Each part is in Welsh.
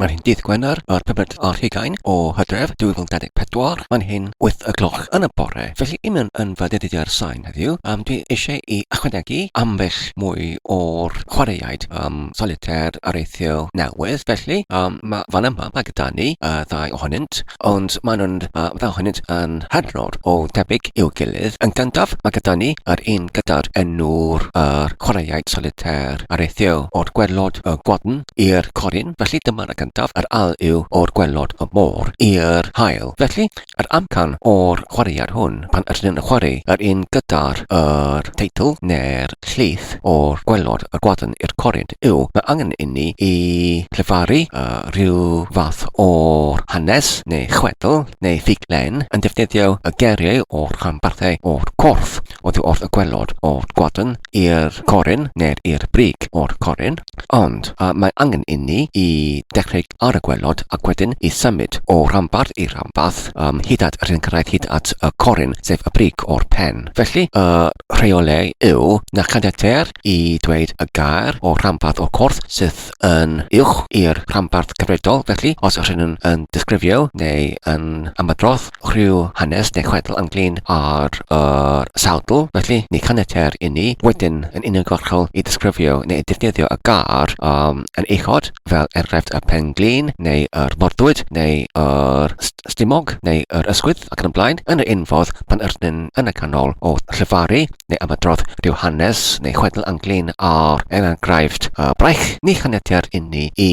Mae'n hyn dydd Gwener, yr pumed ar hugain o Hydref 2024, mae'n hyn wyth y gloch yn y bore, felly i mewn yn fy dyddiau'r sain heddiw, um, dwi eisiau i ychwanegu ambell mwy o'r chwaraeaid um, solitaire areithio newydd, felly um, mae fan yma, mae gyda ni uh, ddau ohonynt, ond maen nhw'n dda hynny yn hynod o debyg i'w gilydd. Yn gyntaf, mae gyda ni yr un gyda'r enw'r yr chwaraeaid solitaire ar eithio o'r gwelod y gwadn i'r corin, felly dyma'r y gyntaf, yr al yw o'r gwelod y môr i'r haul. Felly, yr amcan o'r chwaraead hwn, pan ydyn yn chwarae yr un gyda'r yr teitl neu'r Llys o'r gwaelod a gwadan i'r cored yw, mae angen inni i lefaru a rhyw fath o hanes neu chwedl neu ffuglen yn defnyddio y geriau o'r rhanbarthau o'r corff oddi wrth y gwaelod o'r gwadan i'r coryn neu'r i'r brig o'r coryn, ond a mae angen inni i dechrau ar y gwaelod ac wedyn i symud o ranbarth i ranbarth ym hyd at yr un cyrraedd hyd at y corun, sef y brig o'r pen. Felly, y rheolau yw na chaniateir i ddweud y gair o ranbarth o'r corff sydd yn uwch i'r rhanbarth cyfredol, felly, os rydyn yn disgrifio neu yn ymadrodd rhyw hanes neu chwedl ynglŷn â'r sawdl, felly ni chaniateir inni wedyn yn uniongyrchol i ddisgrifio neu defnyddio y gair yn uchod, fel enghraifft y pen-glin neu yr morddwyd neu yr stumog neu yr ysgwydd ac yn y blaen, yn yr un fodd pan yrnym yn y canol o llefaru neu ymadrodd rhyw hanes neu chwedl ynglŷn â'r enghraifft braich, ni chaniateir inni i.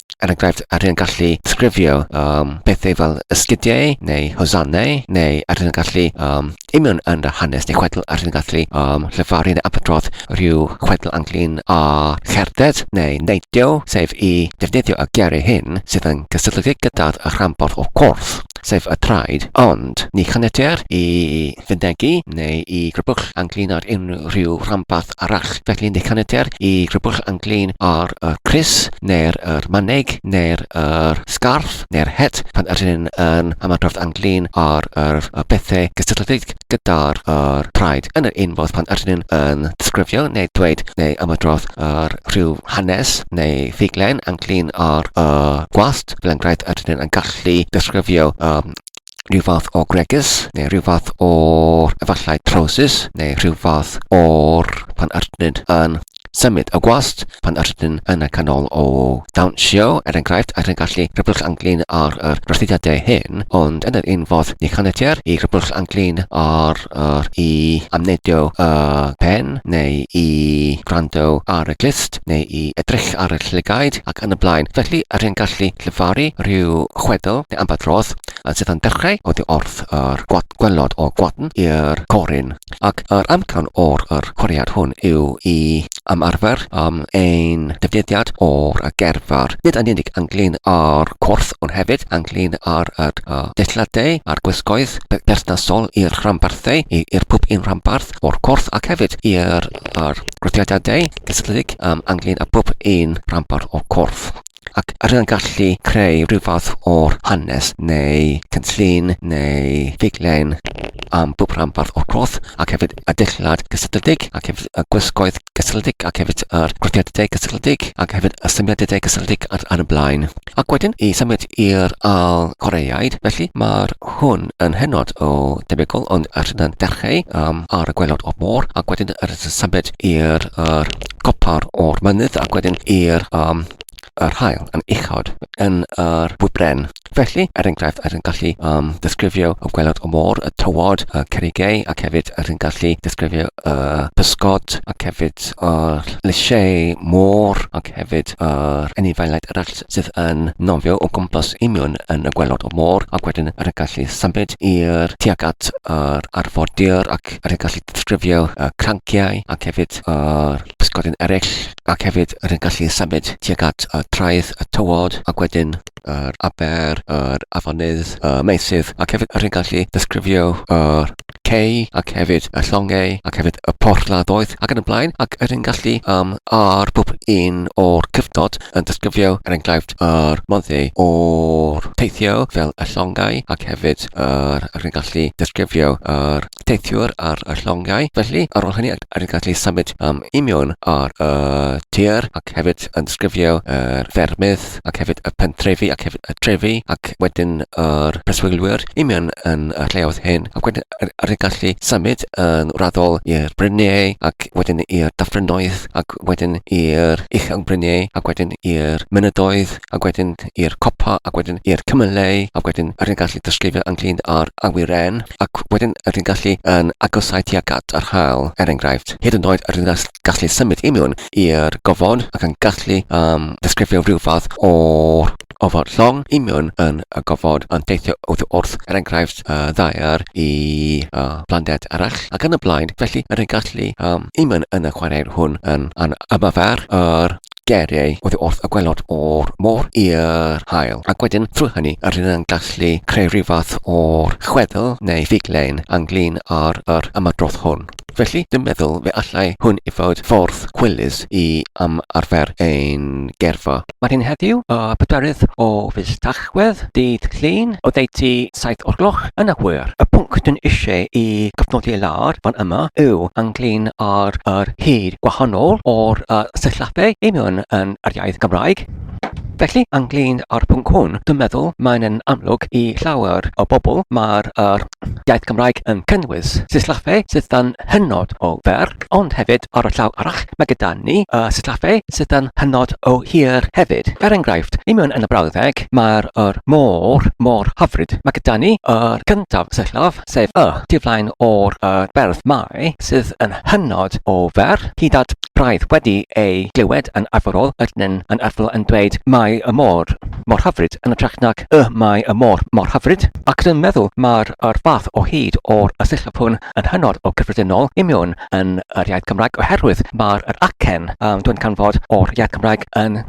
er enghraifft, a rhywun gallu sgrifio um, pethau fel ysgidiau neu hosannau, neu a rhywun gallu um, imion yn yr hanes neu chwedl, a rhywun gallu um, llefaru neu apodrodd rhyw chwedl anglyn a cherdded neu neidio, sef i defnyddio y geiriau hyn sydd yn gysylltiedig gyda'r rhanbarth o corff, sef y traed, ond ni chaniateir i Fenthygu neu i Grybwll Anglin ar unrhyw ranbarth arall. Felly ni chaniateir i Grybwll Anglin ar y crys, neu'r yr manneg, neu'r yr sgarff, neu'r het pan yr hyn yn ymadrodd anglin ar yr y bethau gysylltiedig gyda'r yr praid yn yr un fodd pan yr hyn yn disgrifio neu dweud neu ymadrodd yr rhyw hanes neu ffuglen anglin ar y gwallt, fel enghraifft yr hyn yn gallu disgrifio um, rhyw fath o gregus, neu rhyw fath o efallai trowsus, neu rhyw fath o'r pan arnyn yn symud y gwast, pan arnyn yn y canol o dawnsio, er enghraifft, ac yn gallu rhybwll anglin ar yr rhosdidiadau hyn, ond yn yr un fodd ni chaniateir i rhybwll anglin ar yr i amneidio y pen, neu i wrando ar y glust, neu i edrych ar y llygaid, ac yn y blaen. Felly, yr hyn gallu llefaru rhyw chwedl neu ambell rodd sydd yn dechrau oddi wrth yr gwad, gwelod o gwadn i'r corin, ac yr amcan o'r yr chwariad hwn yw i am arfer am ein dyfnidiad o'r gerfar. Nid yn unig ynglyn â'r corff ond hefyd ynglyn â'r yr uh, deilladau a'r gwisgoedd perthnasol i'r rhanbarthau, i'r pwp un rhanbarth o'r corff ac hefyd i'r grwthiadadau cysylltiedig um, ynglyn â pwp un rhanbarth o'r corff. ac rydyn yn gallu creu rhyw fath o'r hanes neu cynllun neu ffuglen am bob rhanbarth o'r cloth ac hefyd y dillad gysylltiedig ac hefyd y gwisgoedd gysylltiedig ac hefyd yr grwpiadau gysylltiedig ac hefyd y symudiadau gysylltiedig ar, ar y blaen. Ac wedyn i symud i'r al Coreaid, felly mae'r hwn yn hynod o debygol ond rydyn yn dechrau um, ar y gwelod o'r môr ac wedyn rydyn yn symud i'r er, copr o'r mynydd ac wedyn i'r um, yr hael yn uchod yn yr wybren. Felly, er enghraifft, rydyn ni'n gallu um, disgrifio y gwelod o môr, y tywod, y cerigau, ac hefyd rydyn ni'n gallu disgrifio y uh, pysgod, ac hefyd yr lysiau môr, ac hefyd yr uh, enifaelau'r eraill sydd yn nofio o gwmpas imion yn y gwelod o môr, ac wedyn rydyn ni'n gallu symud i'r tuag at yr arfordir ac Cymraeg yr hyn gallu disgrifio y cranciau ac hefyd yr pysgodyn eraill ac hefyd yr hyn gallu symud tuag at y traeth, y tywod ac wedyn yr aber, yr afonydd, y meysydd ac hefyd yr hyn gallu disgrifio yr cei ac hefyd y llongau ac hefyd y porthladdoedd ac yn y blaen ac yr hyn gallu um, ar bob un o'r cyfnod yn disgrifio er enghraifft Fflint a'r Monthey o'r teithio fel y llongau ac hefyd yr yn gallu disgrifio yr teithiwr ar y llongau. Felly, ar ôl hynny, yr yn gallu symud am imiwn ar y tir ac hefyd yn disgrifio yr ffermydd ac hefyd y pentrefi ac hefyd y trefi ac wedyn yr preswylwyr imiwn yn y lleoedd hyn ac wedyn yr yr gallu symud yn wreiddiol i'r bryniau ac wedyn i'r dyffrynnoedd ac wedyn i'r uchel bryniau ac wedyn i'r mynyddoedd ac wedyn i'r copa ac wedyn i'r cymylau ac wedyn yr gallu disgrifio ynglyn â'r awyren ac wedyn yr gallu yn agosau tuag at yr haul er enghraifft hyd yn oed yr gallu symud i mewn i'r gofod ac yn gallu um, disgrifio rhyw fath o'r ofod llong i mewn yn y gofod yn teithio oddi wrth, er enghraifft, y ddaear i y planed arall, ac yn y blaen, felly yr yn gallu um, i mewn yn y chwaraeir hwn yn an ymarfer yr geriau oddi wrth y gwelod o'r môr i'r haul, ac wedyn trwy hynny yr hyn yn gallu creu rhyw fath o'r chwedl neu figlein ynglyn â'r yr ymadrodd hwn. Felly, dwi'n meddwl fe allai hwn i fod ffordd chwilus i ymarfer ein gerfa. Mae hyn heddiw, y pedwerydd o fis Tachwedd, dydd Llun, oddeutu saith o'r gloch yn y hwyr. Y pwnc dyn eisiau i gofnodi lawr fan yma yw ynglŷn â'r yr hyd gwahanol o'r y sillabau i mewn yn yr iaith Gymraeg. Felly, ynglŷn â'r pwnc hwn, dwi'n meddwl mae'n yn amlwg i llawer o bobl mae'r yr iaith Gymraeg yn cynnwys sillafe sydd yn hynod o fer, ond hefyd ar y llaw arall mae gyda ni y sillafe sydd yn hynod o hir hefyd. Er enghraifft, i mewn yn y brawddeg mae'r yr môr mor hyfryd. Mae gyda ni yr cyntaf sillaf, sef y, tu flaen o'r y berth mae, sydd yn hynod o fer, hyd at braidd wedi ei glywed yn arferol, ydyn yn arferol yn dweud mae y môr mor hyfryd yn ytrach nag Y mae y môr mor hyfryd, ac rwy'n meddwl mai'r yr fath o hyd o'r asillaf hwn yn hynod o gyffredinol i mewn yn yr iaith Gymraeg oherwydd mae'r yr acen yn dod yn canfod o'r iaith Gymraeg yn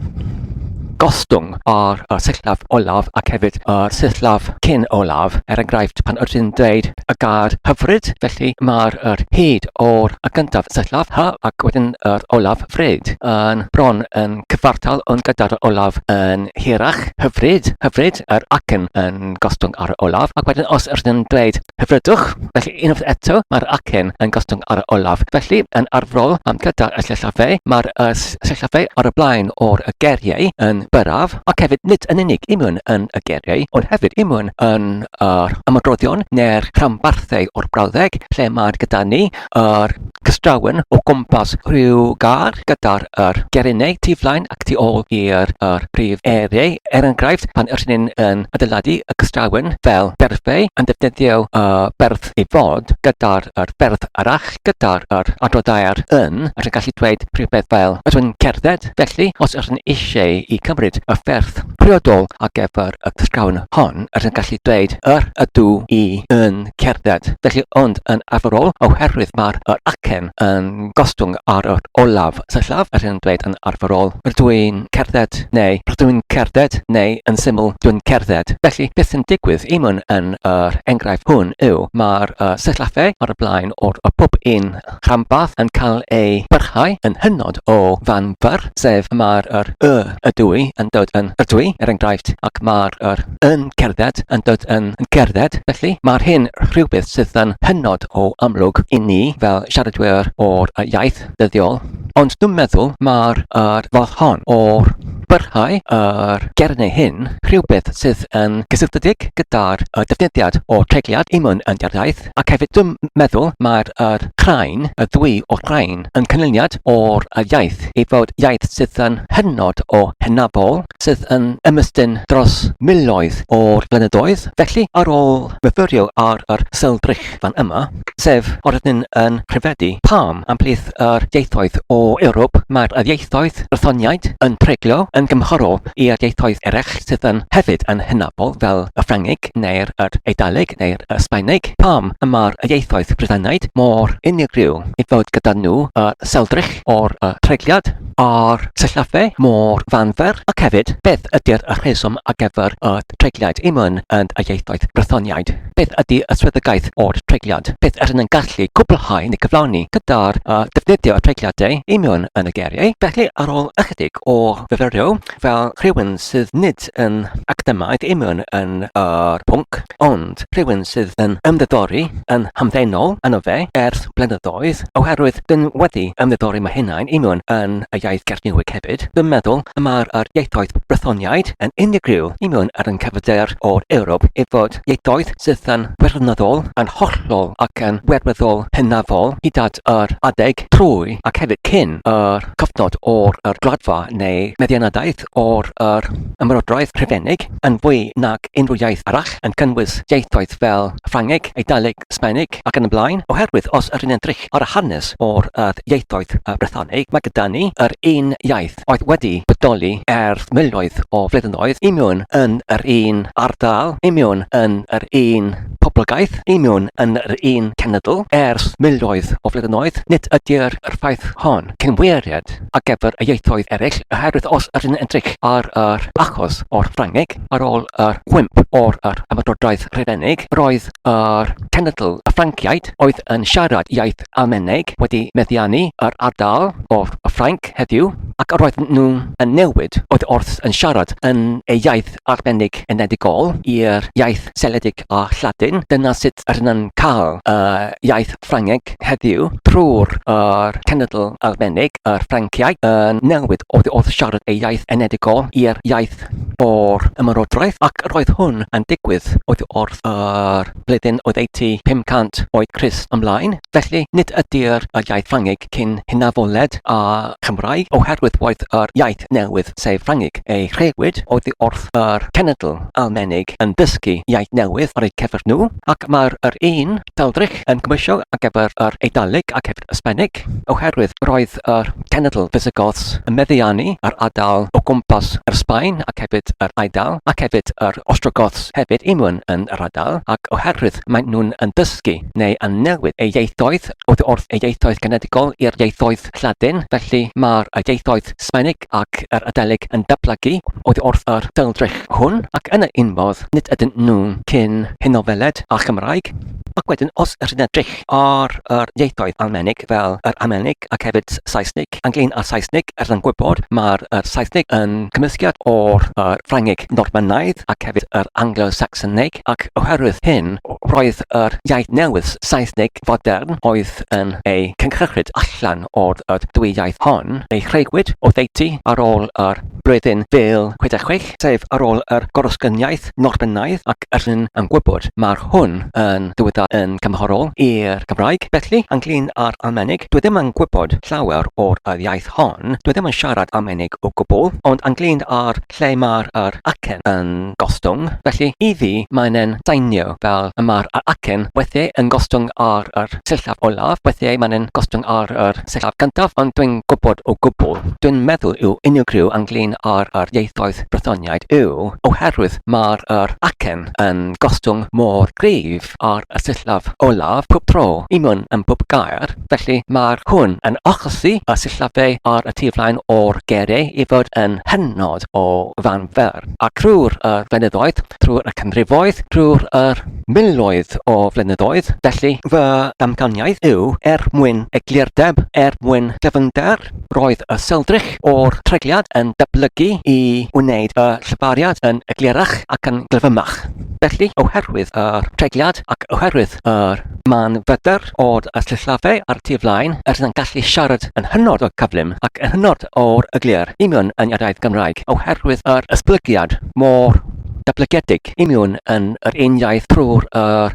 gostwng ar y sillaf olaf ac hefyd y sillaf cyn olaf, er enghraifft pan ydyn ni'n dweud Philip y gad hyfryd, felly mae'r yr hyd o'r y gyntaf syllaf, hy, ac wedyn yr olaf, fryd, yn bron yn cyfartal ond gyda'r olaf yn hirach, hyfryd, hyfryd, yr acen yn gostwng ar y olaf, ac wedyn os ydyn yn dweud hyfrydwch, felly unwaith eto mae'r acen yn gostwng ar y olaf. Felly, yn arfrol am gyda'r y llellafau, mae'r y llellafau ar y blaen o'r y geriau yn byrraf, ac hefyd nid yn unig i mewn yn y geiriau, ond hefyd i mewn yn yr ymadroddion neu'r rhanbarthau o'r brawddeg lle mae gyda ni yr cystrawen o gwmpas rhyw gar gyda'r yr gerinau tu flaen ac tu ôl i'r yr prif eiriau. Er enghraifft, pan ydyn ni'n yn adeiladu y cystrawen fel berfau, yn defnyddio y berf i fod gyda'r yr berf arall, gyda'r yr adroddair yn, ac yn gallu dweud rhywbeth fel, ydw i'n cerdded? Cymraeg. Felly, os ydyn eisiau i cymryd y fferth priodol ar gyfer y ysgafn hon, ydyn gallu dweud yr ydw i yn cerdded. Felly, ond yn arferol, oherwydd mae'r yr acen yn gostwng ar yr olaf syllaf, ydyn dweud yn arferol, rydw i'n cerdded neu rydw i'n cerdded neu yn syml, dwi'n cerdded. Felly, beth sy'n digwydd i mwn yn yr enghraifft hwn yw, mae'r uh, syllafau ar y blaen o'r y pob un rhanbarth yn cael ei barhau yn hynod o fanwl, sef y mae'r yr, y, y dwy yn dod yn yr dwy, er enghraifft, ac mae'r yr yn cerdded yn dod yn yn cerdded. Felly, mae'r hyn rhywbeth sydd yn hynod o amlwg i ni fel siaradwyr o'r iaith dyddiol, ond dwi'n meddwl mae'r yr fath hon o'r barhau yr gernyw hyn rhywbeth sydd yn gysylltiedig gyda'r y defnyddiad o tregliad imwn yn yr iaith. Ac hefyd dwi'n meddwl mae'r yr craen, y ddwy o raen, yn cynlyniad o'r y iaith, ei fod iaith sydd yn hynod o hynafol, sydd yn ymestyn dros miloedd o'r blynyddoedd. Felly, ar ôl myfyrio ar yr sylldrych fan yma, sef o rydyn yn rhyfeddu, pam am plith yr ieithoedd o Ewrop mae'r y ieithoedd Brythoniaid yn treglio yn gymhorol? Ewrop i'r ieithoedd eraill sydd yn hefyd yn hynafol fel y Ffrangeg neu'r yr Eidaleg neu'r y Sbaeneg, pam y mae'r y ieithoedd Brythanaid mor unigryw i fod gyda nhw y seldrych o'r y treigliad a'r sillafe mor fanfer ac hefyd beth ydy'r y rheswm ar gyfer y treigliad i myn yn y ieithoedd Brythoniaid, beth ydy y swyddogaeth o'r treigliad, beth yr yn gallu cwblhau neu gyflawni gyda'r y defnyddio y treigliadau i myn yn y geiriau, felly ar ôl ychydig. ac o fyfyrio fel rhywun sydd nid yn academaidd i mewn yn yr pwnc, ond rhywun sydd yn ymddidori yn hamddenol yno fe erth blynyddoedd, oherwydd dyn wedi ymddidori ma hunain i mewn yn y iaith Gernyweg hefyd, dyn meddwl y mae'r yr ieithoedd Brythoniaid yn unigryw i mewn ar yn cyfyder o'r Ewrop i fod ieithoedd sydd yn wirioneddol, yn hollol ac yn wirweddol hynafol hyd at yr adeg trwy ac hefyd cyn yr heb gyfnod o'r yr Gwladfa neu meddianadaeth o'r yr Ymerodraeth Rhufeinig yn fwy nag unrhyw iaith arall, yn cynnwys ieithoedd fel Ffrangeg, Eidaleg, Sbaeneg, ac yn y blaen, oherwydd os yr yn edrych ar y hanes o'r yr ieithoedd y Brythoneg, mae gyda ni yr un iaith oedd wedi bodoli erth miloedd o flyddynoedd i miwn yn yr un ardal, i miwn yn yr un poblogaeth union yn yr un cenedl ers miloedd o flynyddoedd, nid ydy'r ffaith hon cynwiriad ar gyfer y ieithoedd eraill oherwydd os ydyn ni'n edrych ar yr achos o'r Ffrangeg ar ôl yr wymp o'r yr Ymerodraeth Rufeinig, roedd yr cenedl y Ffranciaid oedd yn siarad iaith Almaeneg wedi meddiannu yr ardal o'r Ffrainc heddiw ac roedden nhw yn newid oedd wrth yn siarad yn eu iaith arbennig enedigol i'r iaith seledig a Lladin, dyna sut ry'n cael y iaith Ffrangeg heddiw, trwy'r yr cenedl arbennig, yr Ffranciaid, yn newid oddi wrth siarad ei iaith enedigol i'r iaith o'r ymerodraeth, ac yr oedd hwn yn digwydd oddi wrth yr flwyddyn oddeutu 500 oed Crist ymlaen. Felly, nid ydy'r iaith Ffrangeg cyn Hynafoliad a Chymraeg oherwydd oedd yr iaith newydd, sef Ffrangeg, ei rhewyd oddi wrth yr cenedl Almaenig yn dysgu iaith newydd ar eu cyfer nhw, ac mae'r yr un daldrych yn gymwysio ar gyfer yr Eidaleg ac hefyd y Sbaeneg, oherwydd roedd yr cenedl Visigoths yn meddiannu yr ardal o gwmpas yr Sbaen ac hefyd yr Eidal ac hefyd yr Ostrogoths hefyd unwan yn yr ardal ac oherwydd maen nhw'n yn dysgu neu yn newid eu ieithoedd oddi wrth eu ieithoedd genedigol i'r ieithoedd Lladin, felly mae'r ieithoedd Sbaeneg ac yr Adelig yn datblygu oddi wrth yr dwyldrych hwn, ac yn un modd, nid ydyn nhw'n cyn Henofeled â'r Gymraeg. Ac wedyn, os rydyn edrych ar yr ieithoedd Almaeneg fel yr Almaeneg ac hefyd Saesneg, Ffrangeg, Anglŷn a Saesneg, er yn gwybod mai'r Saesneg yn gymysgedd o'r Ffrangeg Normanaidd ac hefyd yr Anglo-Sacsoneg, ac oherwydd hyn roedd yr iaith newydd, Saesneg fodern, oedd yn ei cynhyrchyd allan o'r ddwy iaith hon, ei chreuwyd oddeutu ar ôl yr Blwyddyn Bil 66. sef ar ôl yr Gorysgyniaeth Norbenaidd ac yr hyn yn gwybod, mae'r hwn yn dywedad yn cymharol i'r Gymraeg, felly, ynglŷn â'r Almaenig, dwi ddim yn gwybod llawer o'r yr iaith hon, dwi ddim yn siarad Almaenig o gwbl, ond ynglŷn â'r lle mae'r yr acen yn gostwng, felly, i fi, mae'n e'n seinio fel y mae'r yr acen weithiau yn gostwng ar yr sillaf olaf, weithiau mae'n e'n gostwng ar yr. Saesneg gyntaf ond dwi'n gwybod o gwbl, dwi'n meddwl yw unigryw ynglŷn â'r yr ieithoedd Brythoniaid yw oherwydd mae'r yr acen yn gostwng mor gryf ar y sillaf olaf pob tro, union yn bob gair, felly mae'r hwn yn achosi y sillafau ar y tu flaen o'r geiriau i fod yn hynod o fanferth, a thrwy'r yr fynyddoedd, thrwy'r y canrifoedd, thrwy'r yr. Miloedd o flynyddoedd, felly, fy amcaniaeth yw er mwyn egluurdeb, er mwyn dyfnder, roedd y seldrych o'r treigliad yn datblygu i wneud y llafariad yn eglurach ac yn glyfymach. Felly, oherwydd yr treigliad ac oherwydd yr man fydr o'r sillafe a'r tu flaen, rydyn yn gallu siarad yn hynod o gyflym ac yn hynod o eglur i mewn yn yr iaith Gymraeg oherwydd yr esblygiad mor datblygedig. union yn yr un iaith drwy'r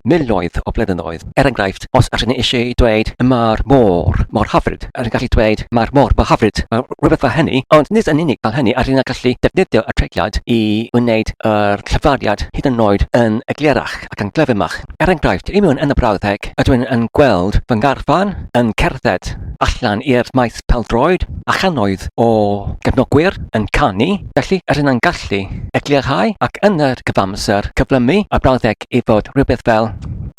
miloedd o flynyddoedd. Er enghraifft, os ydyn ni eisiau dweud 'mae'r môr mor hyfryd', rydyn ni'n gallu dweud 'mae'r môr mor hyfryd', rhywbeth fel hynny, ond nid yn unig fel hynny rydyn ni'n gallu defnyddio y treigliad i wneud yr llyfrgell hyd yn oed yn eglurach ac yn glyfymach. Er enghraifft, union yn y brawddeg ydw i yn gweld fy ngarfan yn cerdded allan i'r maes pêl-droed, a channoedd o gefnogwyr yn canu, Felly, yr un yn gallu eglurhau ac yn yr cyfamser cyflymu y brawddeg i fod rhywbeth fel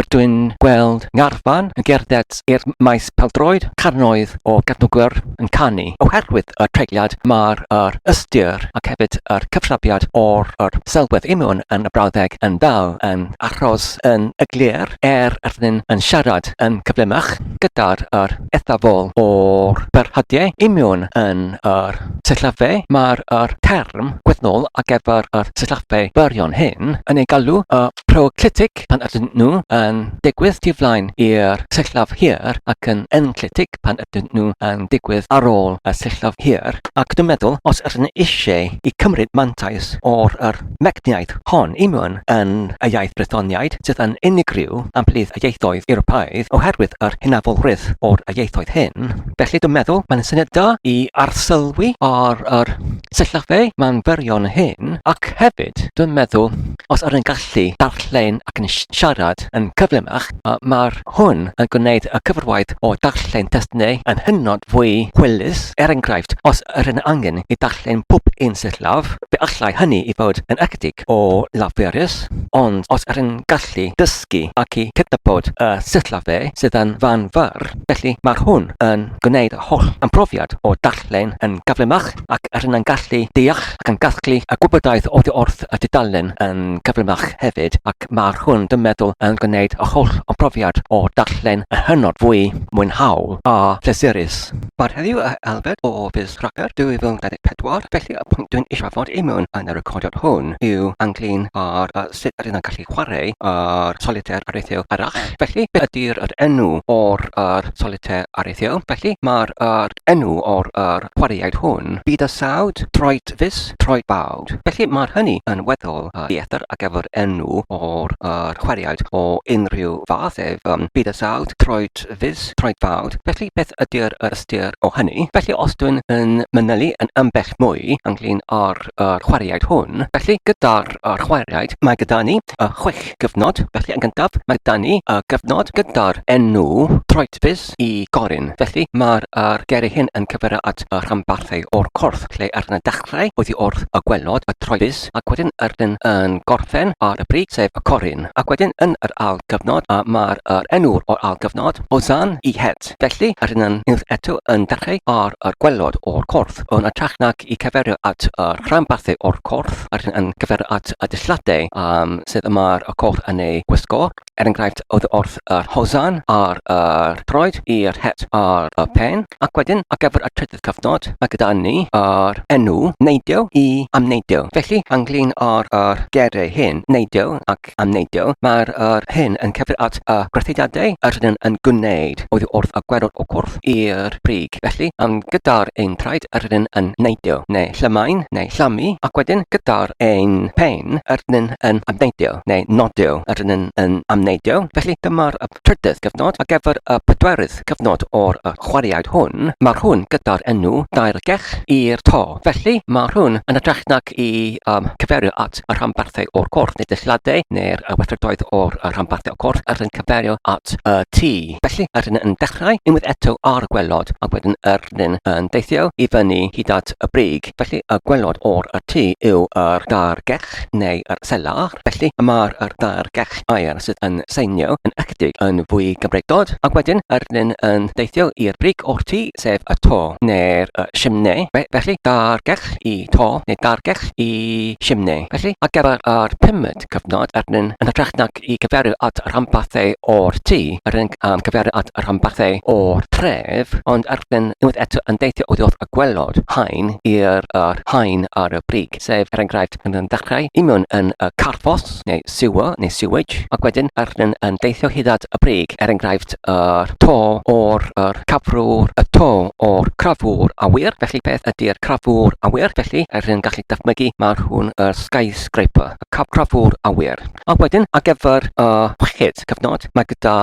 Rydw i'n gweld ngarfan yn gerdded i'r maes pêl-droed, cannoedd o gefnogwyr yn canu oherwydd y treigliad, mae'r yr ystyr ac hefyd yr cyfrhafiad o'r yr selwedd union yn y brawddeg yn fel yn achos yn eglur er yr un yn siarad yn gyflymach gyda'r yr eithafol o'r byrhadiau union yn yr sillafe, mae'r yr term gwyddnol ar gyfer yr sillafe byrion hyn yn ei galw y proenclitig pan ydyn nhw yn digwydd tu flaen i'r sillaf hir ac yn enclitig pan ydyn nhw yn digwydd ar ôl y sillaf hir. Ac dwi'n meddwl, os ydyn ni eisiau i cymryd mantais o'r yr mecniaeth hon i mewn yn y iaith Frythoniaid, sydd yn unigryw ymhlith y ieithoedd Ewropeaidd oherwydd yr hynafolrwydd o'r ieithoedd hyn, Felly dwi'n meddwl mae'n syniad da i arsylwi ar yr syllofe mae'n fyrion hyn ac hefyd dwi'n meddwl os ydyn gallu darllen ac yn siarad yn cyflymach mae'r hwn yn gwneud y cyfrwaith o darllen testunau yn hynod fwy hwylus er enghraifft os ydyn angen i darllen pob un syllaf fe allai hynny i fod yn ychydig o laferus ond os ydyn gallu dysgu ac i cydnabod y syllofe sydd yn fan fyrr Felly, mae hwn yn gwneud yr holl ymprofiad o darllen yn gyflymach ac rydyn yn gallu deall ac yn casglu y gwybodaeth oddi wrth y dudalen yn gyflymach hefyd ac mae hwn, dwi'n meddwl, yn gwneud yr holl ymprofiad o darllen yn hynod fwy mwynhaol a phlesurus. Bore heddiw a Albert o Fizz Cracker 2024, felly y pwynt dwi'n eisiau fod i mewn yn y recordiad hwn yw ynglyn â'r sut rydyn nhw'n gallu chwarae ar solitaire areithiol arall. Felly, beth ydy'r yr enw o'r yr solitaire areithiol? Felly, mae'r yr enw o'r yr chwaraeaid hwn, Byd a Sawd, Troed Fus, Troed Bawd. Felly, mae'r hynny yn weddol uh, dieithr ar gyfer enw o'r yr chwaraeaid o unrhyw fath ef, um, Byd a Sawd, Troed Fus, Troed Bawd. Felly, beth ydy'r yr ystyr o hynny? Felly, os dwi'n yn mynylu yn ambell mwy ynglyn â'r yr chwaraeaid hwn. Felly, gyda'r yr chwaraeaid, mae gyda ni y chwech gyfnod. Felly, yn gyntaf, mae gyda ni y gyfnod gyda'r enw troedfus i Gorin. Felly, mae'r yr geri hyn yn cyfeirio at y rhanbarthau o'r corff, lle ar y dechrau oedd hi wrth y gwelod y troedfus, ac wedyn yr un yn gorffen ar y brig, sef y Corin. Ac wedyn, yn yr ail gyfnod, a mae'r yr enw o'r ail gyfnod, Ozan i Het. Felly, rydyn ni eto yn dechrau ar yr gwaelod o'r corff. Yn ytrach nag i gyfeirio at yr rhanbarthau o'r corff, rydyn yn cyfeirio at y dillladau um, sydd y mae'r y corff yn ei gwisgo, er enghraifft oedd wrth yr hosan ar yr troed i'r het ar y pen, ac wedyn ar gyfer y trydydd cyfnod, mae gyda ni yr enw neidio i amneidio. Felly, ynglyn â'r er gerau hyn, neidio ac Ffrainc. Am neidio, mae'r yr hyn yn cyfri at y gwrtheidiadau yr rydym yn gwneud oddi wrth y gwerwr o gwrdd i'r brig. Felly, am gyda'r ein traed yr rydym yn neidio, neu llymain, neu llamu, ac wedyn gyda'r ein pen yr rydym yn amneidio, neu nodio, yr rydym yn amneidio. Felly, dyma'r y trydydd gyfnod. Ar gyfer y pedwerydd cyfnod o'r y chwaraeaid hwn, mae'r hwn gyda'r enw daeargell i'r to. Felly, mae'r hwn yn hytrach nag i yym cyfeirio at Weithredoedd y rhanbarthau o'r corff neu deilliadau neu'r weithredoedd o'r rhanbarthau o'r corff yr hyn cyfeirio at y tu. Felly, yr hyn yn dechrau unwaith eto ar y gwelod ac wedyn yr hyn yn deithio i fyny hyd at y brig. Felly, y gwelod o'r tu yw yr daear gech neu yr selar. Felly, y mae'r yr daear gech aer sydd yn seinio yn ychydig yn fwy gymregdod ac wedyn yr hyn yn deithio i'r brig o'r tu. sef y to neu'r y simne. Fe, felly, dargech i to neu dargech i simne. Felly, ar gyfer yr pumed cyfnod, arnyn, yn hytrach nag i gyfeirio at rhanbarthau o'r tŷ, yr yn um, cyfeirio at rhanbarthau o'r tref, ond arnyn unwaith eto yn deithio oddi wrth y gwelod, haen i'r yr haen ar y brig, sef, er enghraifft, yn yn dechrau, i mewn yn y carffos, neu sewer, neu sewage, ac wedyn yr yn yn deithio hyd at y brig, er enghraifft yr to o'r yr cafrwr, y to o'r crafwr awyr, felly beth ydy'r crafwr awyr, felly yr yn gallu dychmygu mae hwn y skyscraper, y caf crafwr awyr. A wedyn ar gyfer y chweched cyfnod, mae gyda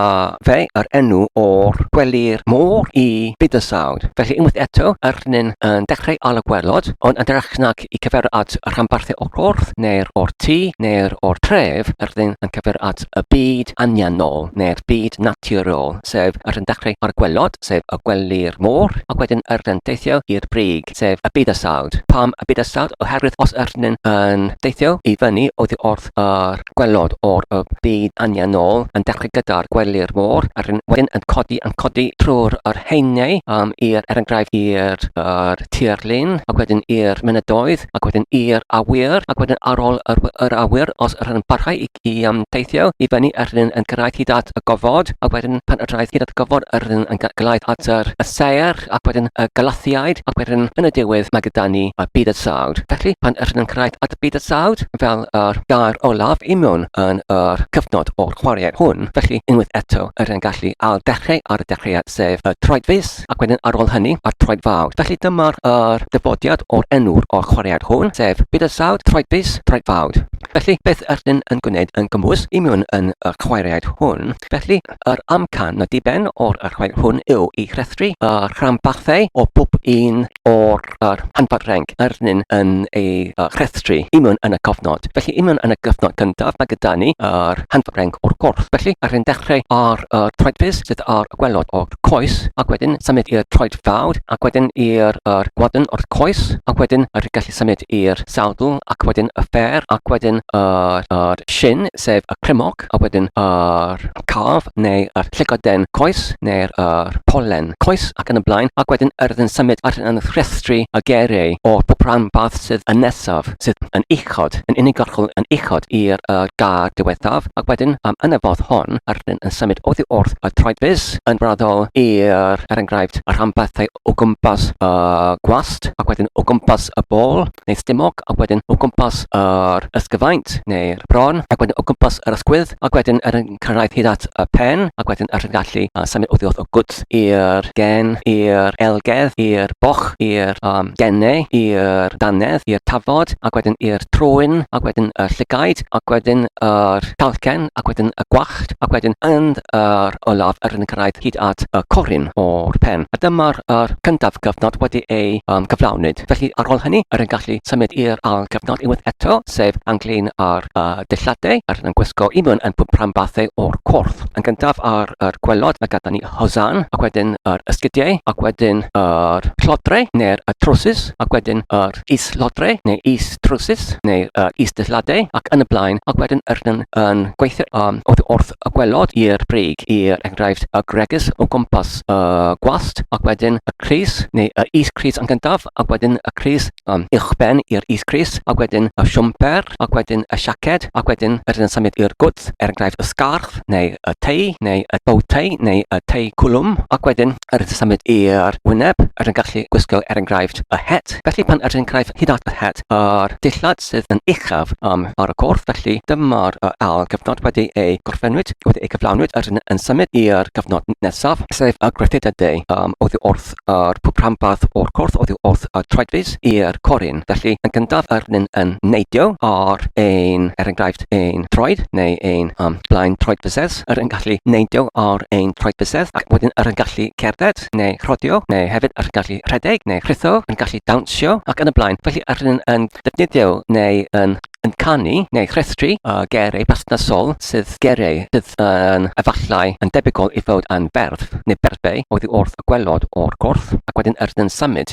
fe yr enw o'r gwely'r môr i byd y sawd, felly unwaith eto yr yn yn dechrau ar y gwelod, ond yn hytrach nag i cyfeirio at y rhanbarthau o'r corff neu'r o'r tŷ neu'r o'r tref, yr ydyn yn cyfeirio at y byd anianol neu'r byd naturiol, sef yr hyn dechrau ar y gwelod, sef y gwely'r môr, ac wedyn yr ydyn deithio i'r brig, sef y bydysawd. Pam y bydysawd? Oherwydd os yr ydyn yn deithio i fyny oddi wrth Ffyrdd a'r Gwaelod o'r Y Byd Anianol yn dechrau gyda'r Gwely'r Môr a wedyn yn codi yn codi trwy'r yr Haenau um, i'r er enghraifft i'r er, tirlun ac wedyn i'r mynyddoedd ac wedyn i'r awyr ac wedyn ar ôl yr, yr awyr os yr yn parhau i, i um, teithio i fyny yr yn yn gyrraedd hyd at y gofod a wedyn pan yr hyd at y gofod yr yn yn gyrraedd at yr, y saer Cymraeg ac wedyn y Galathiaid ac wedyn yn y diwedd mae gyda ni y Byd-y-sawd. Felly, pan ydyn nhw'n cyrraedd at y Byd-y-sawd, fel yr gair olaf i mewn yn yr cyfnod o'r chwaraeau hwn, felly unwaith eto ydyn yn gallu ail dechrau ar y dechreuad sef y troed fis ac wedyn ar ôl hynny a'r troed fawr. Felly dyma'r yr dyfodiad o'r enw'r o'r chwaraead hwn sef Byd-y-sawd, troed fis, troed fawd. Felly, beth ydyn yn gwneud yn gymwys i mewn yn y chwaraeaid hwn? Felly, Yr amcan y diben o'r archwil hwn yw i rhestru y rhanbarthau o bob un o'r rhanbarthau yr ydym yn eu rhestru i mewn yn y cofnod. Felly, i mewn yn y cyfnod cyntaf, mae gyda ni yr rhanbarthau o'r corff. Felly, rydym yn dechrau ar y troedfus, sydd ar y gwaelod o'r coes, ac wedyn symud i'r troed fawr, ac wedyn i'r gwadn o'r coes, ac wedyn rydym yn gallu symud i'r sawdl, ac wedyn y ffêr, ac wedyn yr shin, sef y crymog. a wedyn yr calf neu yr llygoden coes neu'r yr polen coes ac yn y blaen ac wedyn yr ydyn symud ar yn rhestru y gereu o pob rhan fath sydd yn nesaf sydd yn uchod yn unigolgol yn uchod i'r uh, gar diwethaf ac wedyn um, yn y fodd hon yr ydyn yn symud oddi wrth y troedfus yn raddol i'r er enghraifft y rhanbarthau o gwmpas y gwallt ac wedyn o gwmpas y bol neu stumog ac wedyn o gwmpas yr ysgyfaint neu'r bron ac wedyn o gwmpas yr ysgwydd ac wedyn er yn cyrraedd hyd at y pen ac wedyn er yn gallu uh, symud oddi wrth o gwt i'r gen, i'r elgedd, i'r boch, i'r um, gennau, i'r danedd, i'r tafod ac wedyn i'r trwyn ac wedyn y llygaid ac wedyn yr talcen, ac wedyn y gwallt, ac wedyn yn yr olaf er yn cyrraedd hyd at y corun o'r pen. A dyma'r yr cyntaf cyfnod wedi ei um, gyflawni. Felly ar ôl hynny, yr yn gallu symud i'r ail gyfnod unwaith eto, sef anglin ar y dillade, yr yn gwisgo i mewn yn pwprambathe o'r corff. Yn gyntaf ar yr gwelod, mae gada ni y hosan, ac wedyn yr ysgidiau, ac wedyn yr llodre, neu'r y trwsus, ac wedyn yr is-lodrau neu is-drywsus neu is-dillladau ac yn y blaen ac wedyn ydyn yn gweithio um, wrth y gwelod i'r brig i er enghraifft y gregus o gwmpas y gwast ac wedyn y cris neu y is-cris yn gyntaf ac wedyn y cris um, uwchben i'r is-cris ac wedyn y siwmper ac wedyn y siaced ac wedyn ydyn yn symud i'r gwt er enghraifft y sgarff neu y tei neu y bowtei neu y tei cwlwm ac wedyn Yr ydych symud i'r wyneb, yr yn gallu gwisgo er enghraifft y het. Felly pan yr enghraifft hyd at y het a'r dillad sydd yn uchaf am ar y corff felly dyma'r yr ail gyfnod wedi ei gorffennwyd, wedi ei gyflawnwyd yr yn yn symud i'r gyfnod nesaf sef y gryllid y de um, oddi wrth yr pwp rhanbarth o'r corff oddi wrth y troedfus i'r corin. Felly yn gyntaf yr yn yn neidio ar ein er enghraifft ein troed neu ein um, blaen troedfusedd. hefyd yr yn gallu neidio ar ein traed bysedd ac wedyn yr yn gallu cerdded neu rhodio neu hefyd yr yn gallu rhedeg neu rhitho, yn gallu dawnsio ac yn y blaen. Felly yr yn yn defnyddio neu yn yn canu neu rhestru y geiriau perthnasol sydd geiriau sydd yn efallai yn debygol i fod yn ferf neu berfau oddi wrth y gwelod o'r corff ac wedyn yr yn symud.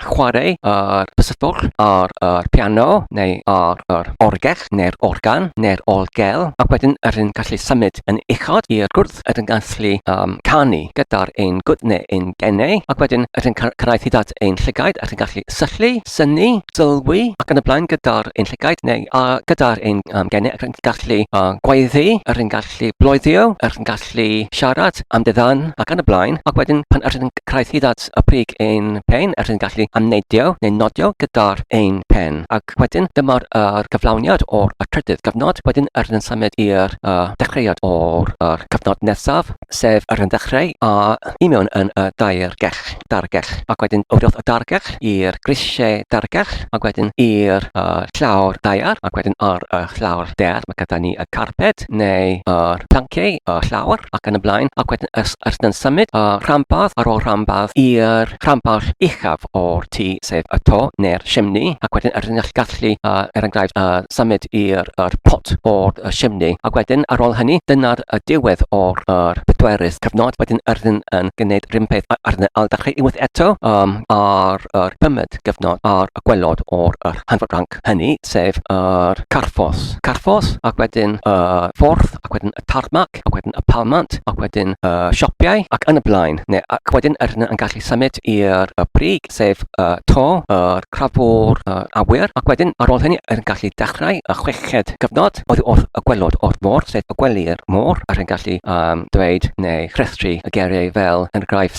chwarae ar y sydwch, ar y piano, neu ar yr orgell, neu'r organ, neu'r orgel, ac wedyn yr hyn gallu symud yn uchod i'r gwrdd, yr hyn gallu um, canu gyda'r ein gwd neu ein genau, ac wedyn yr hyn cyrraedd hyd at ein llygaid, yr hyn gallu syllu, syni, sylwi, ac yn y blaen gyda'r ein llygaid neu uh, gyda'r ein um, genau, ac yn gallu uh, gwaeddu, yr hyn gallu gallu bloeddio, er yn gallu siarad am dy ddan ac yn y blaen, ac wedyn pan er yn cyrraedd hyd at y prig ein pen, er yn gallu amneidio neu nodio gyda'r ein pen. Ac wedyn dyma'r er cyflawniad o'r y trydydd gyfnod, wedyn er yn symud i'r y dechreuad o'r er cyfnod nesaf, sef er yn ddechreu a i mewn yn y daergell, dargell, ac wedyn o wrth y dargell i'r grisiau dargell, ac wedyn i'r y llawr daear, ac wedyn ar y llawr daear. Mae gyda ni y carped neu yr planciau, y llawr ac yn y blaen ac wedyn ys, ys yn symud y rhanbarth ar ôl rhanbarth i'r rhanbarth uchaf o'r tŷ sef y to neu'r chimney ac wedyn yr yn gallu uh, er enghraifft uh, symud i'r er pot o'r uh, chimney ac wedyn ar ôl hynny dyna'r uh, diwedd o'r er pedwerydd cyfnod wedyn yr yn, yn gwneud rhywun peth ar yn ail ddechrau unwaith eto um, ar yr pymyd gyfnod ar y gwelod o'r er hanfod ranc. hynny, sef yr Carffos, Carffos, ac wedyn y Ffordd, ac wedyn y Tarmac, ac wedyn y Palmant, ac wedyn y Sioppiau, ac yn y blaen. Neu, ac wedyn yr hyn yn gallu symud i'r brig, sef y to, yr crafwr, yr awyr, ac wedyn ar ôl hynny yr yn gallu dechrau y chweched gyfnod oedd wrth y gwelod o'r môr, sef y gwely'r môr, yr yn gallu um, dweud neu rhestru y geiriau fel yn graif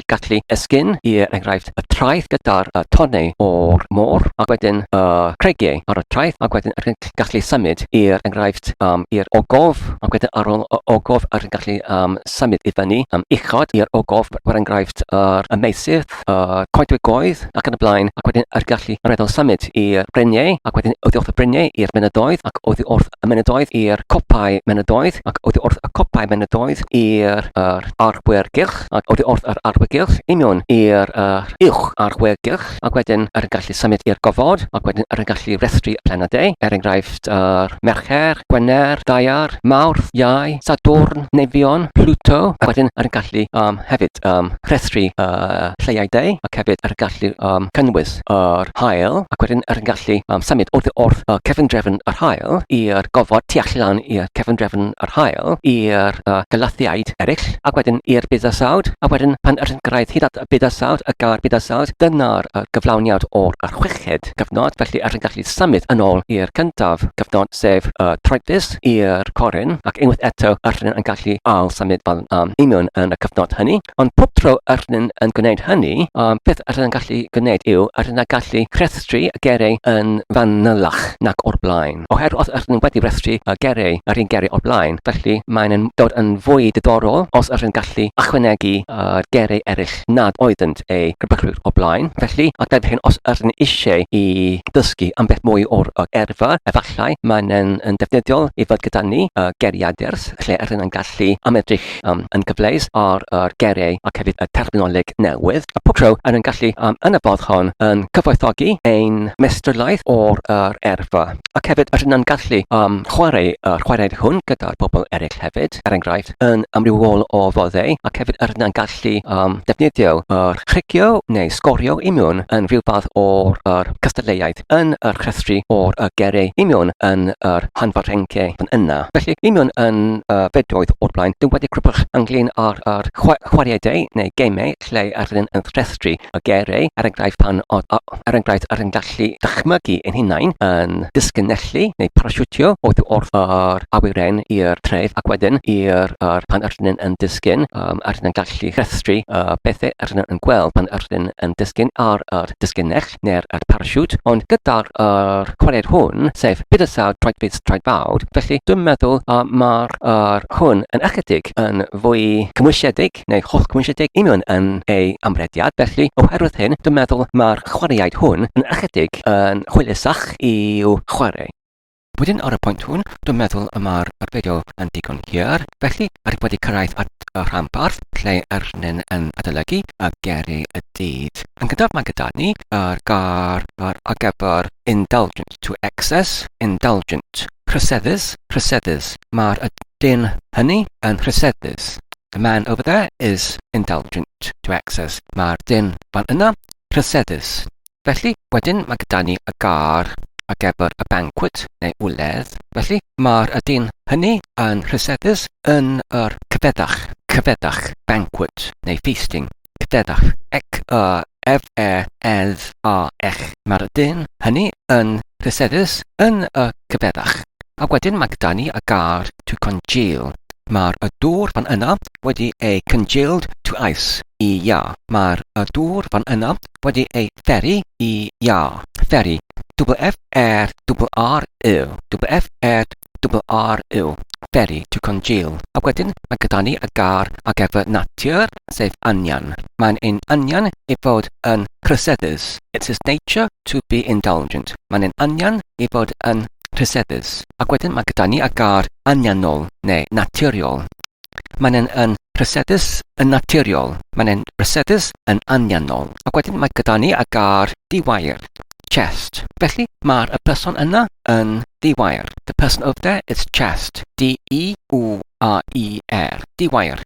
y gallu esgyn i er enghraifft y traeth gyda'r y tonnau o'r môr ac wedyn y creigiau ar y traeth ac wedyn rhyw'n gallu symud i er enghraifft um, i'r ogof ac wedyn ar ôl y ogof rhyw'n gallu um, symud i fyny um, uchod i'r ogof er enghraifft yr y meisydd, y coedwig goedd ac yn y blaen ac wedyn yr gallu reddol symud i'r breniau ac wedyn oddi wrth y breniau i'r mynyddoedd ac oddi wrth y mynyddoedd i'r copau mynyddoedd ac oddi wrth y copau mynyddoedd i'r arbwyr gylch a oddi wrth yr arwyddill union i'r uwch arwyddill ac wedyn yr yn gallu symud i'r gofod ac wedyn yr yn gallu rhestru y planedau, er enghraifft yr Mercher, Gwener, Daear, Mawrth, Iau, Sadwrn, Neifion, Pluto, ac wedyn yr yn gallu um, hefyd um, rhestru uh, lleiau deu ac hefyd yr yn gallu um, cynnwys. ffrwd yr haul ac wedyn er yngallu um, symud oddi wrth y cefndrefn yr haul i'r gofod tu allan i'r cefndrefn yr haul i'r uh, galathiaid eraill ac wedyn i'r bydysawd a wedyn pan yr gyrraedd hyd at y bydysawd y gair bydysawd dyna'r uh, gyflawniad o'r archwechyd cyfnod felly er yngallu symud yn ôl i'r cyntaf cyfnod sef y uh, troedfus i'r corin ac unwaith eto yr yn gallu ail symud fel um, union yn y cyfnod hynny ond pob tro yr rydyn yn gwneud hynny, y peth yr rydyn yn gallu gwneud yw yr rydyn yn gallu rhestru y gerei yn fanylach nac o'r blaen. Oherwydd os yr rydyn wedi rhestru y gerei yr un gerei o'r blaen, felly mae'n yn dod yn fwy diddorol os yr rydyn gallu ychwanegu y gerei eraill nad oeddynt eu rhybugrwydd o'r blaen. Felly, ac fel hyn, os yr rydyn eisiau i ddysgu am beth mwy o'r erfa, efallai mae'n yn yn defnyddiol i fod gyda ni y geriadur lle yr rydyn yn gallu ymedrych Cymraeg yn gyfleus ar yr geiriau ac hefyd y terminoleg newydd, a pob tro er ein gallu yn y ffordd hon yn cyfoethogi ein meistriolaeth o'r yr erfa, ac hefyd yr hyn na'n gallu yn chwarae yr chwaraeon hwn gyda'r pobl eraill hefyd, er enghraifft, yn amrywiol o foddau, ac hefyd yr hyn na'n gallu yn defnyddio yr rhugio neu sgorio i mewn yn rhyw fath o'r yr cystadleuaeth. yn yr chrefftri o'r y gere, i mewn yn yr hanfarrenge yn yna. Felly, i mewn yn y bedoedd o'r blaen, dim wedi crybwch ynglyn â'r yr chwa, chwariedau neu gemau lle yr ydyn yn chrefftri y gere, er enghraifft pan o, o, er enghraifft yr yn gallu dychmygu ein hunain yn disgynellu neu parasiwtio oedd wrth yr awyren i'r tref ac wedyn i'r yr pan yr ydyn yn disgyn, um, yr ydyn yn gallu chrefftri y bethau yr ydyn yn gweld pan yr ydyn yn disgyn ar yr disgynell. neu'r at parasiwt, ond gyda'r yr chwared hwn, sef bydysawd traedfus traedfawr, felly dwi'n meddwl y mae'r yr hwn yn ychydig yn fwy cymwysiedig, neu holl cymwysiedig, i mewn yn ei amrediad, felly oherwydd hyn, dwi'n meddwl mae'r chwaraeaid hwn yn ychydig yn hwylusach i'w chwarae. Wedyn ar y pwynt hwn, dwi'n meddwl y mae'r fideo yn digon hir, felly rwyf wedi cyrraedd at y rhanbarth lle yr nyn yn adolygu y geri y dydd. Yn gyntaf mae gyda ni yr gar ar gyfer indulgent, to excess, indulgent, rhyseddus, rhyseddus, mae'r dyn hynny yn rhyseddus. The man over there is indulgent, to excess, mae'r dyn fan yna rhyseddus. Felly, wedyn mae gyda ni y gar ar gyfer y banquet neu wledd. Felly, mae'r ydyn hynny yn rhyseddus yn yr cyfeddach, cyfeddach, banquet neu feasting, cyfeddach, ec y ef e edd a ech. Mae'r ydyn hynny yn rhyseddus yn y cyfeddach. A wedyn mae gyda ni y gar to congeal. Mae'r y dŵr fan yna wedi ei congealed to ice i ia. Mae'r y dŵr fan yna wedi ei pheri i Ia, pheri, W-F-E-R-R-Y, W-F-E-R-R-Y, pheri, to congeal. A wedyn mae gyda ni y gair ar gyfer natur, sef anian. Mae'n ein anian i fod yn rhyseddus. It's his nature to be indulgent. Mae'n ein anian i fod yn rhyseddus. A wedyn mae gyda ni y gair anianol neu naturiol. mae'n e'n yn rhesedus yn naturiol, mae'n e'n rhesedus yn anianol. Ac wedyn mae gyda ni a gar di-wair, chest. Felly mae'r y person yna yn di-wair. The person over there is chest. D-E-U-A-I-R. Di-wair.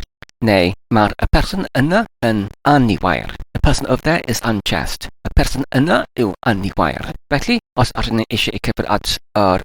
Neu mae'r y person yna yn aniwair. The person over there is unchest. Y person yna yw aniwair. Felly, os ydyn ni eisiau i cyfer at yr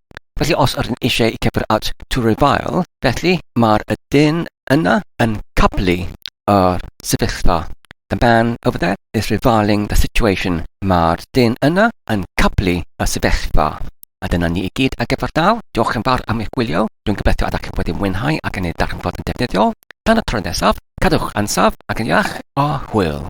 Felly os yr un eisiau i cyfr at to revile, felly mae'r y dyn yna yn cablu yr sefyllfa. The man over there is reviling the situation. Mae'r dyn yna yn cablu y sefyllfa. A dyna ni i gyd ar gyfer daw. Diolch yn fawr am eich gwylio. Dwi'n gobeithio ydych chi wedi mwynhau ac yn ei darganfod yn defnyddiol. Tan y tro nesaf, cadwch yn saf ac yn iach a hwyl.